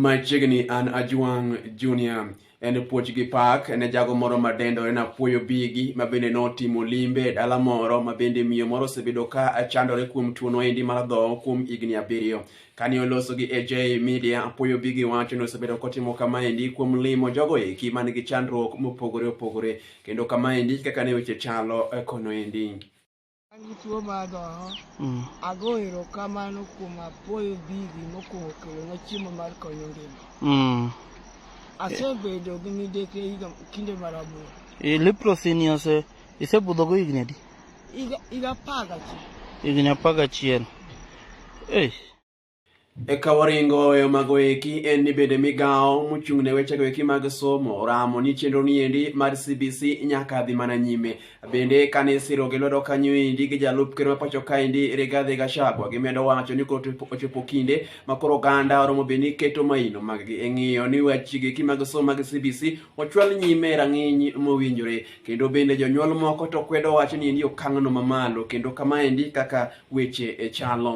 Machiegni an Ajwang' Junior. En puoch gi pak ne jago moro ma dendore na puoyo bigi ma bende notimo limbe e dala moro ma bende miyo moro osebedo ka chandore kuom tuono endi mar dhoho kuom higni abiriyo. Kane oloso gi AJ Media, apuoyo bigi wacho ni osebedo kotimo kamaendi kuom limo jogo eki man gi chandruok mopogore opogore. Kendo kamaendi kaka ne weche chalo eh, kono endi. An gi tuo mar adhoho. Mm. Ago erokamano kuom apuoyo bigi mokwongo kelonwa chiemo mar konyo ngima. Mm. Asebedo gi midekre higa kinde mar aboro. E, leprosy ni ose isebudhogo higni adi? Higa higa apar gachiel. Higni apar gachiel. Ei. Eka waringo weyo mago eki en ni bende migawo mochung' ne wechego eki mag somo oramo ni chenro ni endi mar CBC nyaka dhi mana nyime. Bende kane isiro gi lwedo kanyo endi gi jalup ker ma pacho ka endi Rigathi Gachagua gimedo wacho ni koro ochopo kinde ma koro oganda oromo be ni keto maino mag gi e ng'iyo ni wechego eki mag somo mag CBC ochwal nyime e rang'iny mowinjore. Kendo bende jonyuol moko to kwedo wacho ni endi okang'no mamalo kendo kama endi kaka weche e chalo.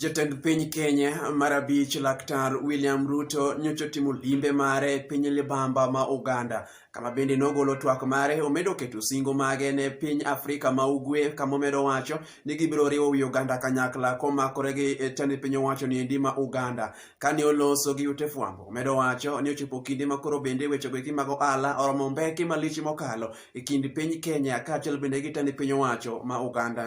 Jatend piny Kenya mar abich Laktar William Ruto nyocha otimo limbe mare e piny libamba ma Uganda kama bende nogolo twak mare omedo keto singo mage ne piny Afrika ma Ugwe kama omedo wacho ni gibiro riwo wi Uganda kanyakla komakore gi e tend piny owacho ni endi ma Uganda kane oloso gi ute fwambo omedo wacho ni ochopo kinde ma koro bende wechego eki mag ohala oromo mbeki malich mokalo e kind piny Kenya kaachiel bende gi tend piny owacho ma Uganda.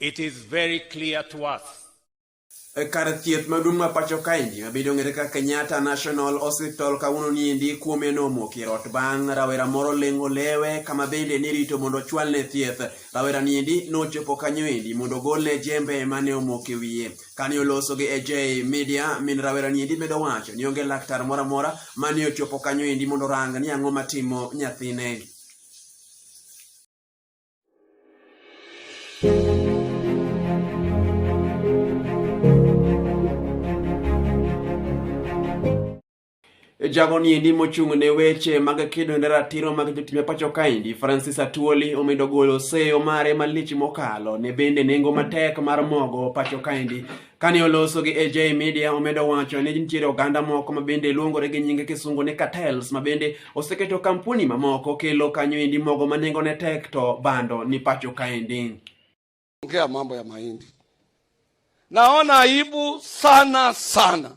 It is very clear to us. E kar thieth maduong' ma pacho kaendi mabedo ng'ere kaka Kenyatta National Hospital kawuono niendi kuome nomoki e rot bang' rawera moro lengo lewe kama bende nirito mondo ochwalne thieth. Rawera niendi nochopo kanyo endi mondo ogolne jembe mane omoke wiye. Kane oloso gi AJ Media, min rawera niendi medo wacho ni onge laktar moro amora mane ochopo kanyo endi mondo orang ni ang'o matimo nyathine. Jago ni endi mochung' ne weche mag kedo ne ratiro mag jotim e pacho kaendi Francis Atuoli omedo golo seyo mare malich mokalo ne bende nengo matek mar mogo pacho kaendi Kane oloso gi AJ Media, omedo wacho ni nitiere oganda moko mabende luongore gi nyinge kisungu ni cartels mabende oseketo kampuni mamoko kelo kanyo endi mogo ma nengo ne tek to bando ni pacho kaendi. Ongea mambo ya mahindi. Naona aibu sana sana.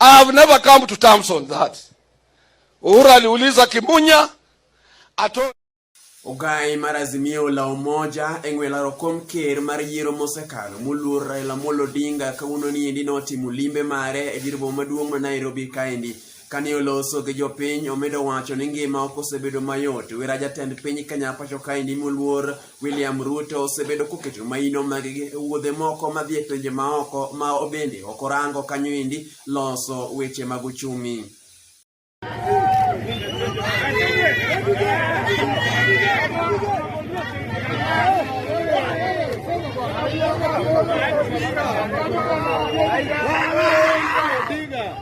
I have never come to terms on that. Uhuru aliuliza Kimunya ato Ogai mar Azimio la Umoja e ng'we laro kom ker mar yiero mosekalo moluor Raila Amolo Odinga kawuono ni endi notimo limbe mare e dir boma maduong' ma Nairobi kaendi Kane oloso gi jopiny, omedo wacho ni ngima ok osebedo mayot. Wera jatend piny Kenya pacho kaendi moluor William Ruto osebedo koketo maino mag wuodhe moko madhi e pinje maoko ma obende ok orango kanyo endi loso weche mag uchumi.